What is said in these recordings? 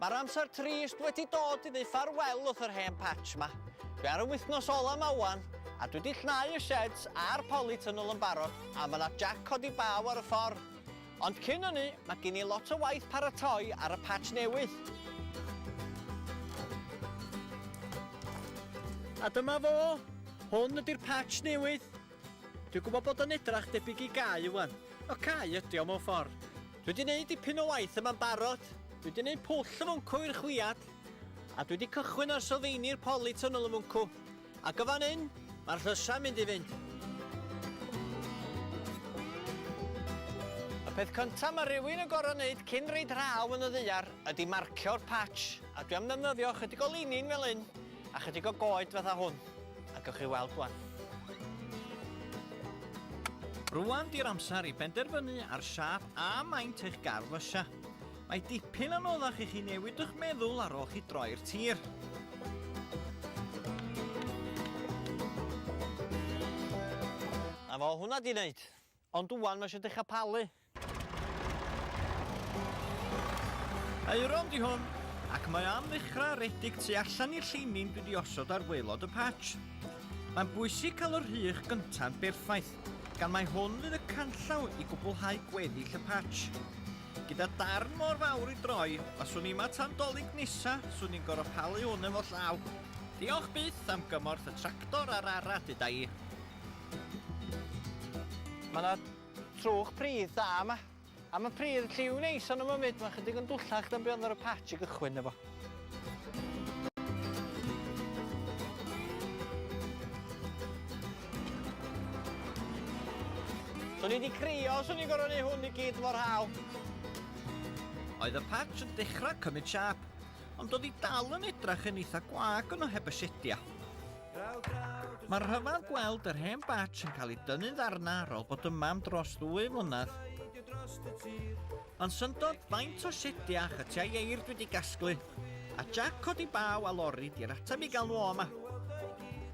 Mae'r amser trist wedi dod i ddeu ffarwel wrth yr hen patch ma. Dwi ar y wythnos ola ma wan, a dwi di llnau y sheds a'r polytunnel yn barod, a ma na jac codi baw ar y ffordd. Ond cyn ynny, ma gin i lot o waith paratoi ar y patch newydd. A dyma fo! Hwn ydi'r patch newydd. Dwi'n gwybod bod o'n edrach debyg i gau ŵan. Wel cau ydi o mewn ffordd. Dwi di neud dipyn o waith yma'n barod. Dwi di neud pwll y mwncw i'r chwiad. A dwi di cychwyn ar sylfeini'r poli tunnel y mwncw. Ac o fan hyn, mae'r llysa'n mynd i fynd. Y peth cynta mae rywun yn gorfod neud cyn reid rhaw yn y ddaear ydi marcio'r patch. A dwi am ddefnyddio chydig o linin fel hyn. A chydig o goed fatha hwn, a gewch chi weld wan. Rwan di'r amser i benderfynu ar siâp a maint eich gardd fysia. Mae dipyn anoddach i chi newid eich meddwl ar ôl chi droi'r tir. A fo hwnna di wneud. Ond ŵan mae eisiau dechrau palu. Aeron di hwn, ac mae am ddechrau redig tu allan i'r lleinin dwi di osod ar waelod y patch. Mae'n bwysig cael yr rhych gynta'n berffaith, gan mae hwn fydd y canllaw i gwblhau gweddill y patch. Gyda darn mor fawr i droi, os swn i yma tan dolig nesa, swn i'n gorfod palu hwn efo llaw. Diolch byth am gymorth y tractor a'r ara, deda i. Mae yna trwch pridd da yma. A mae pridd lliw neis yn y myfyd, mae'n chydig yn dwllach na be oedd ar y patch i gychwyn efo. Swn i wedi crio os o'n i'n gorfod gwneud hwn i gyd mor hawdd. Oedd y patch yn dechrau cymryd siâp, ond oedd hi dal yn edrych yn eitha gwag yno heb y siedia. Mae'n rhyfedd gweld yr hen batch yn cael ei dynnu'n ddarna ar ôl bod yma am dros ddwy flynedd. Ond syndod faint o siedi a chytiau eir dwi wedi gasglu, a Jack codi baw a lori di'r ateb i gael nhw o yma.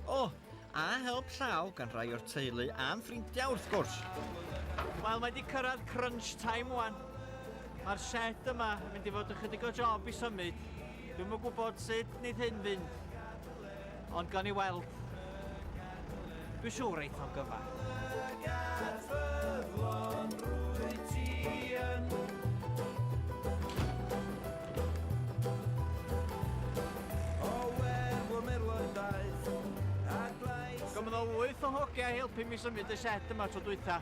O, oh, a help llaw gan rai o'r teulu a'n ffrindiau wrth gwrs. Wel, mae wedi cyrraedd crunch time wan. Mae'r shed yma yn mynd i fod ychydig o job i symud. Dwi'n mwyn gwybod sut wneud hyn fynd. Ond gawn ni weld. Dwi'n siŵr eith o'n gyfan. Gofynnodd wyth o hogiau helpu mi symud y sied yma tro dwytha.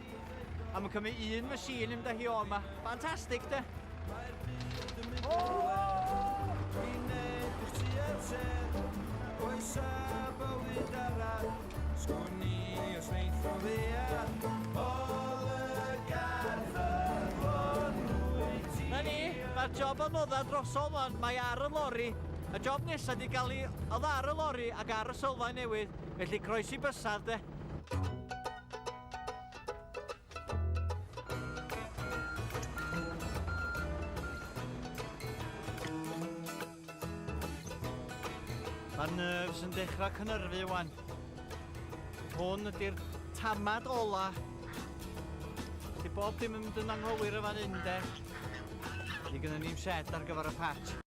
A mae'n cymryd un machine yn da hi o yma. Fantastic, de? job am oddau drosol wan, mae ar y lori. Y job nesaf wedi cael ei oedd ar y lori ac ar y sylfaen newydd, felly croesi bysaf de. Mae'r nerves yn dechrau cynyrfu wan. Hwn ydy'r tamad ola. Di bob dim yn mynd yn anghywir y fan hyn de. Di gyda ni'n set ar gyfer y patch.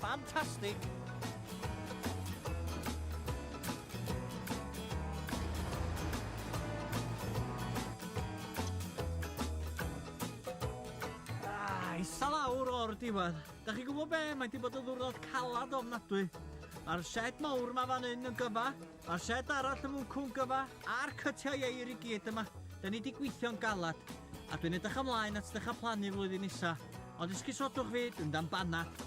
Fantastic! Isa lawr o'r diwedd. Da chi gwybod be, mae di bod yn ddwrnod calad ofnadwy. Mae'r shed mawr ma fan hyn yn gyfa, Mae'r shed arall yn fwncw'n gyfa a'r cytiau eir i gyd yma. Da ni di gweithio'n galad a dwi'n edrych ymlaen at ddechrau plannu flwyddyn nesa. Ond esgusodwch fyd yn dan banad.